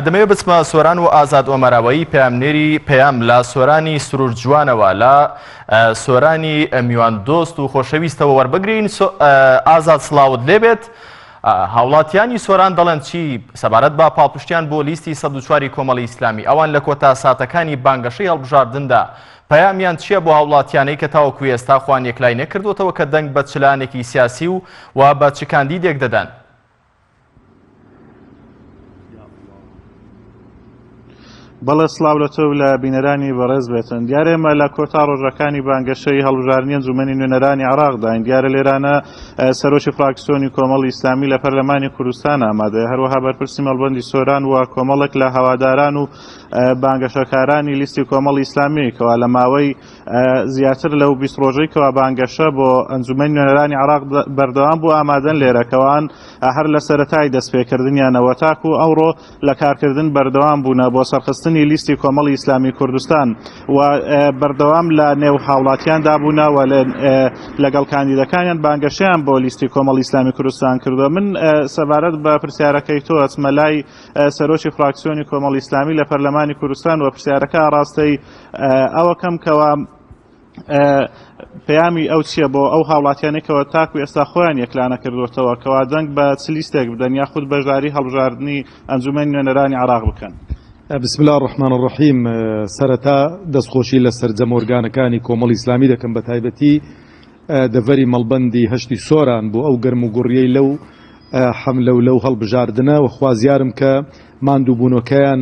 دەمەوێ بچمە سۆران و ئازاد ئۆمەراوەیی پەیامنێری پەیام لە سۆرانی سروور جوانەوە لە سۆرانی میوان دۆست و خۆشەویستەوە وەربگرین ئازاد سلااوت لێبێت هاوڵاتیانی سۆران دەڵێن چی سەبارەت بە پاڵپشتیان بۆ لیستی سە چواری کۆمەڵی ئیسلامی ئەوان لە کۆتا ساتەکانی بانگەشەی هەڵبژاردندا پەیامیان چییە بۆ هاوڵاتیانەی کە تاوەکو ئێستا خوان یەکلای نەکردوتەوە کە دەنگ بە چلانێکی سیاسی و و بە چکاندی دێک دەدەن بەڵێ سڵاو لە تۆ لە بینەرانی بەڕێز بێتن دیارە ئێمە لە کۆتا ڕۆژەکانی بانگەشەی هەڵبژارنی ئەنجومەنی نوێنەرانی عراقداین دیارە لێرانە سەرۆکی فراکسیۆنی کۆمەڵی ئیسلامی لە پەرلەمانی کوردستان ئامادەیە هەروەها بەرپرسی مەڵبندی سۆران و کۆمەڵێک لە هەواداران و بانگەشەکارانی لیستی کۆمەڵی ئیسلامی کەوا لە ماوەی زیاتر لەو بیست ڕۆژەی کەوا بانگەشە بۆ ئەنجومەنی نوێنەرانی عێراق بەردەوام بوو ئامادەن لێرە کەوان هەر لە سەرەتای دەستپێکردنیانەوە تاکو ئەوڕۆ لە کارکردن بەردەوام بوونە بۆ سەرخستنی لیستی کۆمەڵی ئیسلامی کوردستان و بەردەوام لە نێو هاوڵاتیان دابوونا و لەگەڵ کاندیدەکانیان بانگەشیان بۆ لیستی کۆمەڵی ئیسلامی کوردستان کردووە من سەبارەت بە پرسیارەکەی تۆ ئەچمە لای سەرۆکی فراکسیۆنی کۆمەڵی ئیسلامی لە پەرلەمانی کوردستان و پرسیارەکە ڕاستەی ئەوەکەم کەوا پەیامی ئەو چییە بۆ ئەو هاوڵاتیانێکەوە تاکو ئێستا خۆیان یەکلانە کردوتەوە کەوا دەنگ بە چ لیستێک بدەن یاخود بەشداری هەڵبژاردننی ئەنجومەنی نوێنەرانی عراق بکەن. بسم اللە الرحمن الرحیم سەرەتا دەستخۆشی لە سەرجەم ئۆرگانەکانی کۆمەڵی ئیسلامی دەکەم بەتایبەتی دەڤەری مەڵبەندی هەشتی سۆران بۆ ئەو گەرموگوڕیەی لەو حەملە و لەو هەڵبژاردنە وە خوازیارم کە ماندووبوونەکەیان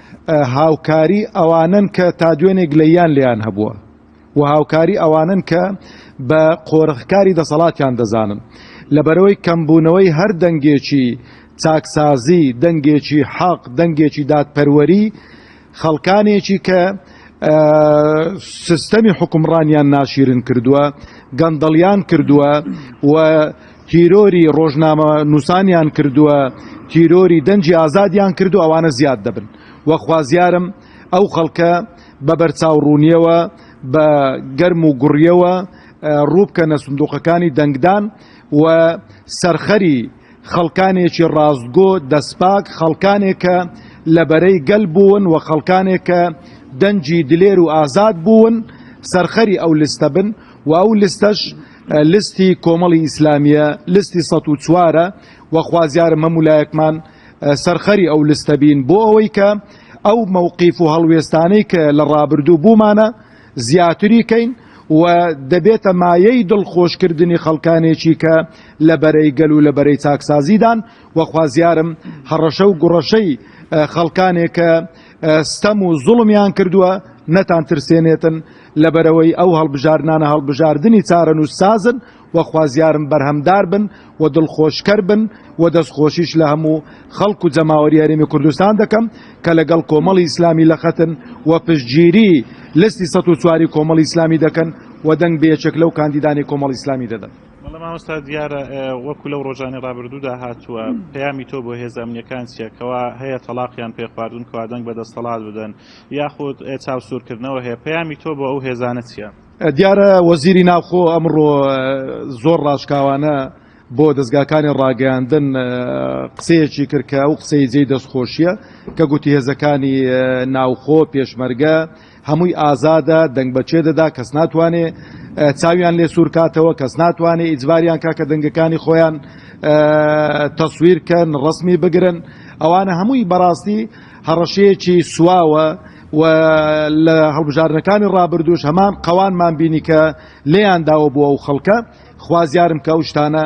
هاوکاری ئەوانەن کە تا دوێنێ گلەییان لێیان هەبووە و هاوکاری ئەوانەن کە بە قۆرغکاری دەسەڵاتیان دەزانن لەبەرەوەی کەمبوونەوەی هەر دەنگێکی چاکسازی دەنگێکی حەق دەنگێکی دادپەروەری خەڵکانێکی کە سیستەمی حکومڕانیان ناشیرن کردووە گەندەڵیان کردووە و تیرۆری ڕۆژنامە نووسانیان کردووە تیرۆری دەنجی ئازادیان کردو ئەوانە زیاد دەبن و خوازیارم ئەو خەڵکە بە بەرچاوڕوونیەوە بە گەرم و گوڕیەوە ڕووبکەنە سندوقەکانی دەنگدان و سەرخەری خەڵکانێکی ڕاستگۆ دەستپاک خەڵکانێکە لە بەرەی گەل بوون و خەڵکانێکە دەنجی دلێر و ئازاد بوون سەرخەری ئەو لستە بن و ئەو لستەش لستی کۆمەڵی ئیسلامیە لستی سەد و چوارە و خوازیارم هەموو لایەکمان سەرخەری ئەو لستە بین بۆ ئەوەی کە ئەو مەوقیف و هەڵوێستانەی کە لە ڕابردوو بوومانە زیاتری کەین و دەبێتە مایەی دڵخۆشکردنی خەڵکانێکی کە لە بەرەی گەل و لە بەرەی چاکسازیدان و خوازیارم هەڕەشە و گوڕەشەی خەڵکانێک کە ستەم و زوڵمیان کردووە نەتان ترسێنێتن لەبەرەوەی ئەو هەڵبژاردنانە هەڵبژاردنی چارەنووس سازن و خوازیارم بەرهەمدار بن و دڵخۆشکەر بن و دەستخۆشیش لە هەموو خەڵک و جەماوەری هەرێمی کوردستان دەکەم کە لەگەڵ کۆمەڵی ئیسلامی لەخەتن و پشتگیری لستی سەد و چواری کۆمەڵی ئیسلامی دەکەن و دەنگ بە یەکێک لەو کاندیدانی کۆمەڵی ئیسلامی دەدەن. بەڵێ مامۆستا دیارە وەکو لەو ڕۆژانی ڕابردوودا هاتووە پەیامی تۆ بۆ هێز ئەمنیەکان چیە کەوا هەیە تەلاقیان پێ خواردون کەوا دەنگ بە دەستەڵات بدەن یاخود چاوسورکردنەوە هەیە پەیامی تۆ بۆ ئەو هێزانە چیە دیارە وەزیری ناوخۆ ئەمڕۆ زۆر ڕاشکاوانە بۆ دەستگاکانی ڕاگەیاندن قسەیەکی کردکە ئەو قسەی جێی دەستخۆشیە کە گوتی هێزەکانی ناوخۆ پێشمەرگە هەمووی ئازادە دەنگ بە کێ دەدا کەس ناتوانێ چاویان لێ سوور کاتەوە کەس ناتوانێ ئیجباریان کا کە دەنگەکانی خۆیان تەسویر کەن ڕسمی بگرن ئەوانە هەمووی بەڕاستی هەڕەشەیەکی سواوە و لە هەڵبژارنەکانی ڕابردوش هەمان قەوانمان بینی کە لێیان داوە بۆ ئەو خەڵکە خوازیارم کە ئەو شتانە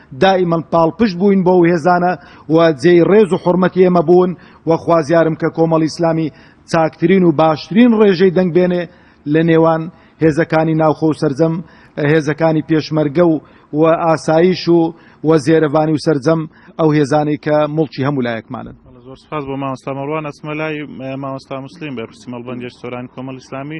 دائیمەن پاڵپشت بووین بۆ ئەو هێزانە و جێی ڕێز و حورمەتی ئێمە بوون و خوازیارم کە کۆمەڵی ئیسلامی چاکترین و باشترین ڕێژەی دەنگ بێنێ لە نێوان هێزەکانی ناوخۆ و سەرجەم هێزەکانی پێشمەرگە و و ئاسایش و و زێرەڤانی و سەرجەم ئەو هێزانەی کە مڵکی هەموو لایەکمانن. زۆر سپاس بۆ مامۆستا مەڕوان ئەچمە لای مامۆستا موسلیم بەرپرسی مەڵبەندی سۆرانی کۆمەڵی ئیسلامی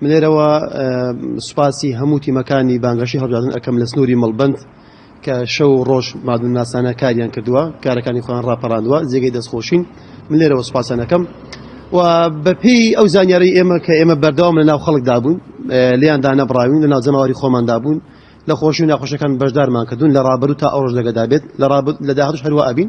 من لێرەوە سوپاسی هەموو تیمەکانی بانگەشەی هەڵبژاردن ئەکەم لە سنووری مەڵبەند کە شەو و ڕۆژ مادونناسانە کاریان کردووە، کارەکانی خۆیان ڕاپەڕاندووە، جێگەی دەستخۆشین. من لێرەوە سوپاسیان ئەکەم و بەپێی ئەو زانیاریی ئێمە کە ئێمە بەردەوام لەناو خەڵکدا بووین، لێیان دانەبڕاوین، لەناو جەماوەری خۆماندا بوون، لە خۆشی و ناخۆشییەکان بەشدارمان کردوون، لە ڕابردوو تا ئەوڕۆش لەگەدا بێت، لە داهاتووش هەروا ئەبین.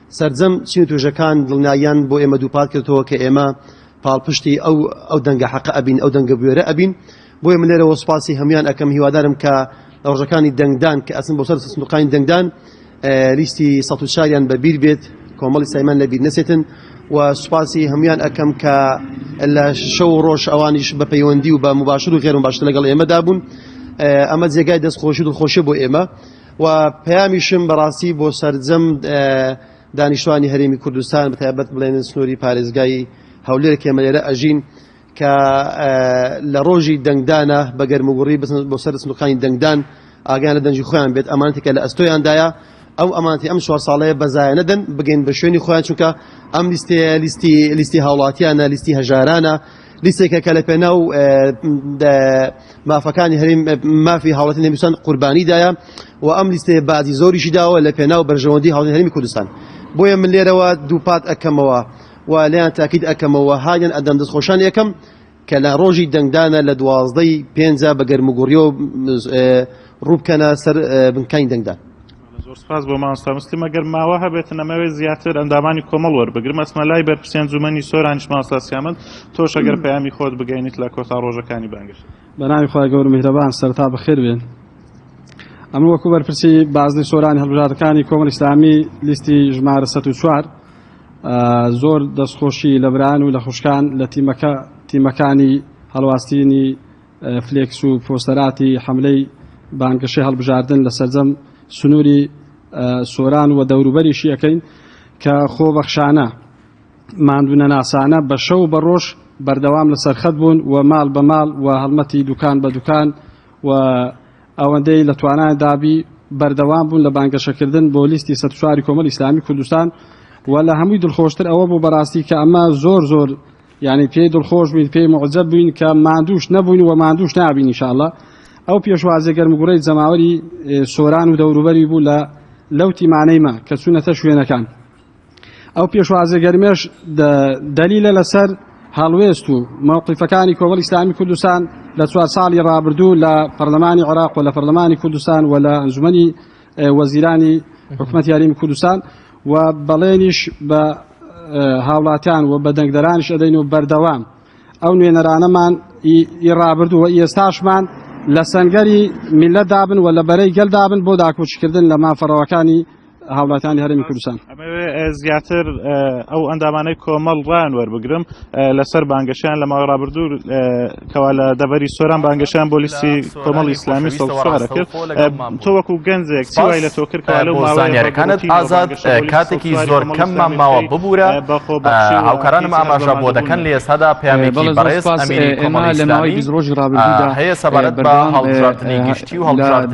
سەرجەم چین و توێژەکان دڵنیاییان بۆ ئێمە دووپات کردەوە کە ئێمە پاڵپشتی ئەو ئەو دەنگە حەقە ئەبین، ئەو دەنگە بوێرە ئەبین. بۆیە من لێرەوە سوپاسی هەموویان ئەکەم، هیوادارم کە لە ڕۆژەکانی دەنگدان کە ئەچن بۆ سەر سندوقانی دەنگدان لیستی سەد و چاریان بە بیر بێت، کۆمەڵی سایمان لە بیر نەچێتن و سوپاسی هەموویان ئەکەم کە لە شەو و ڕۆژ ئەوانیش بە پەیوەندی و بە مباشر و غێر مباشر لەگەڵ ئێمەدا بوون. ئەمە جێگای دەستخۆشی و دڵخۆشیە بۆ ئێمە. و پەیامیشم بەڕاستی بۆ سەرجەم دانیشتوانی هەرێمی کوردستان بەتایبەت بڵێنن سنووری پارێزگای هەولێر کێمە لێرە ئەژین کە لە ڕۆژی دەنگدانە بە گەرموگوڕی بسن بۆ سەر سنوورەکانی دەنگدان ئاگیان لە دەنگی خۆیان بێت ئەمانتێکە لە ئەستۆیاندایە ئەو ئەمانتی ئەم چوار ساڵەیە بەزایە نەدەن بگەین بە شوێنی خۆیان چونکە ئەم لیستەیە لیستی لیستی هاوڵاتیانە لیستی هەژارانە لیستێکە کە لەپێناو مافەکانی هەریم مافی هاوڵەتی نەمیسان قوربانی دایە و ئەم لیستێ بازی زۆریشی داوە لە پێناو بەرژەوەندی هاوڵی هەرمی کوردستان بۆیە من لێرەوە دووپات ئەەکەمەوە و لیان تاکیید ئەەکەمەوە هاگەن ئەدەم دەست خۆشان یەکەم کە لە ڕۆژی دەنگدانە لە دوازدەی پێنجا بە گەرمگوڕیەوە ڕووبکەنە سەر بنکانی دەنگدان زۆر سپاس بۆ مامۆستا مسلم ئەگەر ماوە هەبێتن ئەمەوێت زیاتر ئەندامانی کۆمەڵ وەربگرم ئەچمە لای بەرپرسی ئەنجومەنی سۆرانیش مامۆستا سیامەند تۆش ئەگەر پەیامی خۆت بگەینیت لە کۆتا ڕۆژەکانی بانگەشە بەناوی خوای گەور میهرەبان سەرتا بەخێر بێن ئەمن وەکو بەرپرسی بازنی سۆرانی هەڵبژاردەکانی کۆمەڵ ئیسلامی لیستی ژمارە 104 زۆر دەستخۆشی لە بران و لە خوشکان لە تیمەکە تیمەکانی هەڵواستینی فلێکس و پۆستەراتی حەملەی بانگەشەی هەڵبژاردن لە سەرجەم سنووری سۆران و دەوروبەریشی ئەکەین کە خۆبەخشانە، ماندوونەناسانە بە شەو و بە ڕۆژ بەردەوام لە سەرخەت بوون و ماڵ بە ماڵ و هەڵمەتی دوکان بە دوکان و ئەوەندەی لە توانایان دابی بەردەوام بوون لە بانگەشەکردن بۆ لیستی سەد و چوار ی کۆمەڵی ئیسلامی کوردستان و لە هەمووی دڵخۆشتر ئەوە بوو بەڕاستی کە ئەمە زۆر زۆر یانی پێی دڵخۆش بووین پێی موعجەب بووین کە ماندووش نەبووین و ماندووش نابین انشاءاللە ئەو پێشوازە گەرمگوڕەی جەماوەری سۆران و دەوروبەری بوو لە لەو تیمانەیمە کە چوونەتە شوێنەکان ئەو پێشوازە گەرمێش دەلیلە لەسەر هەڵوێست و مەوقیفەکانی کۆمەڵ ئیسلامی کوردستان لە چوار ساڵی ڕابردوو لە پەرلەمانی عراق و لە پەرلەمانی کوردستان و لە ئەنجومی وەزیرانی حکومەت یاریمی کوردستان و بەڵێنیش بە هاوڵاتیان و بە دەنگدەرانش ئەدەین و بەردەوام ئەو نوێنەرانەمان ئی ڕابردوو و ئێستاشمان لە سەنگەری میلەتدا بن و لە بەرەی گەلدا بن بۆ داکۆکیکردن لە مافەڕەوەکانی هاوڵاتیانی هەرێمی کوردستان. ئەمەوێ زیاتر ئەو ئەندامانەی کۆمەڵ ڕان وەربگرم لەسەر بانگەشیان لە ماوەی ڕابردوو کەوا لە دەبەری سۆران بانگەشیان بۆ لیستی کۆمەڵ ئیسلامی سەڵسوارە کرد تۆ وەکو گەنجێک چوای لە تۆکرد لەو ماوەیەکانت ئازاد کاتێکی زۆر کەممان ماوە ببوورە بەخۆ هاوکارانم ئاماژە بۆ دەکەن لە ئێستادا پێیانێکی بەڕێز ئەمینی کۆمەڵ ئیسلامی ڕۆژی ڕابردوودا هەیە سەبارەت بە هەڵبژاردنی گشتی و هەڵبژاردن